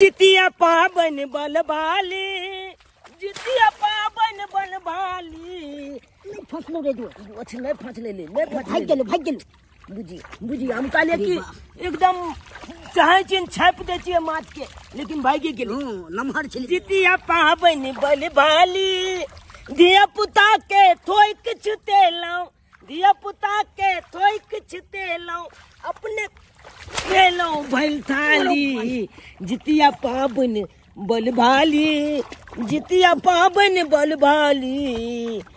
जितिया पाबनि बलबाली जितिया पाबनि बलबाली नहि फसलो रे जो अछि नहि फसले ले नहि फसले भागि गेलो भागि गेलो बुझी बुझी हम कहलिए कि एकदम चाहे चिन छापि दै छियै माछ के लेकिन भागि गेल हूँ नमहर छली जितिया पाबनि बलबाली धिया पुता के थोइ किछु देलहुँ धिया पुता के थोइक छितेलहुँ अपने खेलहुँ भैल थाली जितिया पाबनि बलभाली जितिया पाबनि बलभाली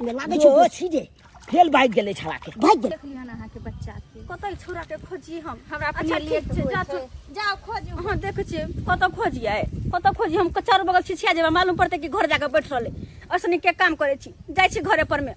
लागै छै ओ छी जे फेल भागि गेलै छड़ा के भागि गेल देखली हन अहाँके बच्चा के कतऽ ई छोरा के खोजी हम हमरा अपने अच्छा, लिए ठीक छै, जा तू। जाओ खोज अहाँ देखै छियै कतऽ खोजियै कतऽ खोजी हम चारू बगल छिछिया जेबै मालूम पड़तै कि घर जाके बैठ रहलै ऐसने के काम करै छी जाइ छी घरे पर मे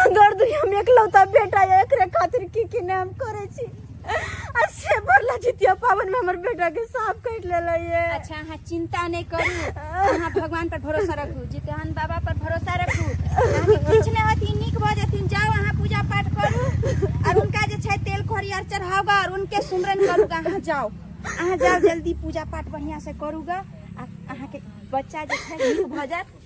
अगर दुनिया में एकलौता बेटा या एकरे खातिर की की नाम करे छी आ से बरला जितिया पावन में हमर बेटा के सांप काट लेले ये अच्छा अहाँ चिंता नहीं करू अहाँ भगवान पर भरोसा रखू जितहन बाबा पर भरोसा रखू अहाँके किछु नहि होती नीक भऽ जेथिन जाउ अहाँ पूजा पाठ करू और उनका जे छै तेल खोरी आर चढ़ाओगा और उनके सुमरन करूगा अहाँ जाउ अहाँ जाउ जल्दी पूजा पाठ बढ़िया से करूगा आ अहाँके बच्चा जे छै नीक भऽ जायत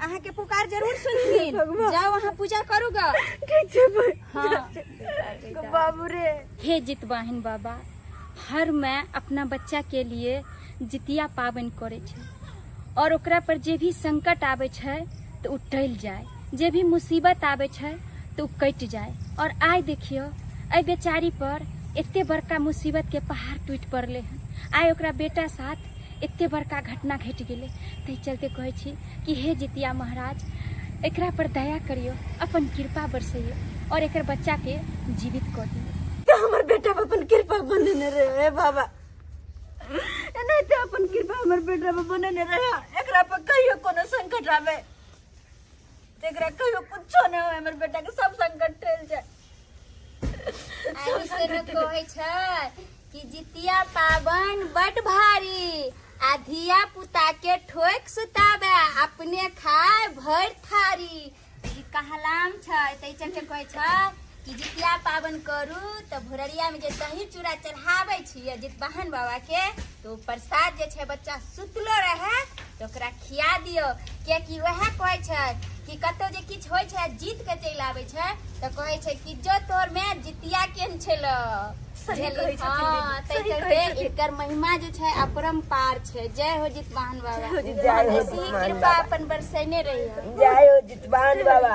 अहाँ के पुकार जरूर सुनथिन जाओ अहाँ पूजा करूगा हाँ बाबू रे हे जितवाहिन बाबा हर मैं अपना बच्चा के लिए जितिया पाबन करे छै और ओकरा पर जे भी संकट आवे छै तो उ टल जाए जे भी मुसीबत आवे छै तो उ कट जाए और आय देखियो अय बेचारी पर एते बड़का मुसीबत के पहाड़ टूट पड़ले हन आय ओकरा बेटा साथ एते बड़का घटना घटि गेलै ताहि चलते कहै छी कि हे जितिया महाराज एकरा पर दया करियो अपन कृपा बरसैयो और एकर बच्चा के जीवित कऽ दियो तो हमर बेटा पर अपन कृपा बनेने रहे हे बाबा नहीं तो अपन कृपा हमर बेटा पर बनेने रहे एकरा पर कहियो कोनो संकट आवे एकरा कहियो कुछो नहि होय हमर बेटा के सब संकट टल जाय आदमी से ने कहै छै कि जितिया पाबन बड भारी आ धिया पुता के ठोक सुताबे अपने खाय भर थारी ई कहलाम छै तै चलते कहै छै कि जितिया पाबनि करू तऽ भोररियामे जे दही चूड़ा चढ़ाबै छियै जितवाहन बाबाके तऽ ओ प्रसाद जे छै बच्चा सुतलो रहै तऽ ओकरा खिया दियौ कियाकि उएह कहै छै कि कतौ जे किछु होइ छै जीत कऽ चलि आबै छै तऽ कहै छै कि जो तोहर माय जितिया केहन छेलौ सही कहै छथिन हँ, दीदी, ताहि सही कहै चलते छथिन। एकर महिमा जे छै अपरम्पार छै जय हो जितवाहन बाबा जय हो ऐसी ही कृपा अपन बरसेने रही जय हो जितवान बाबा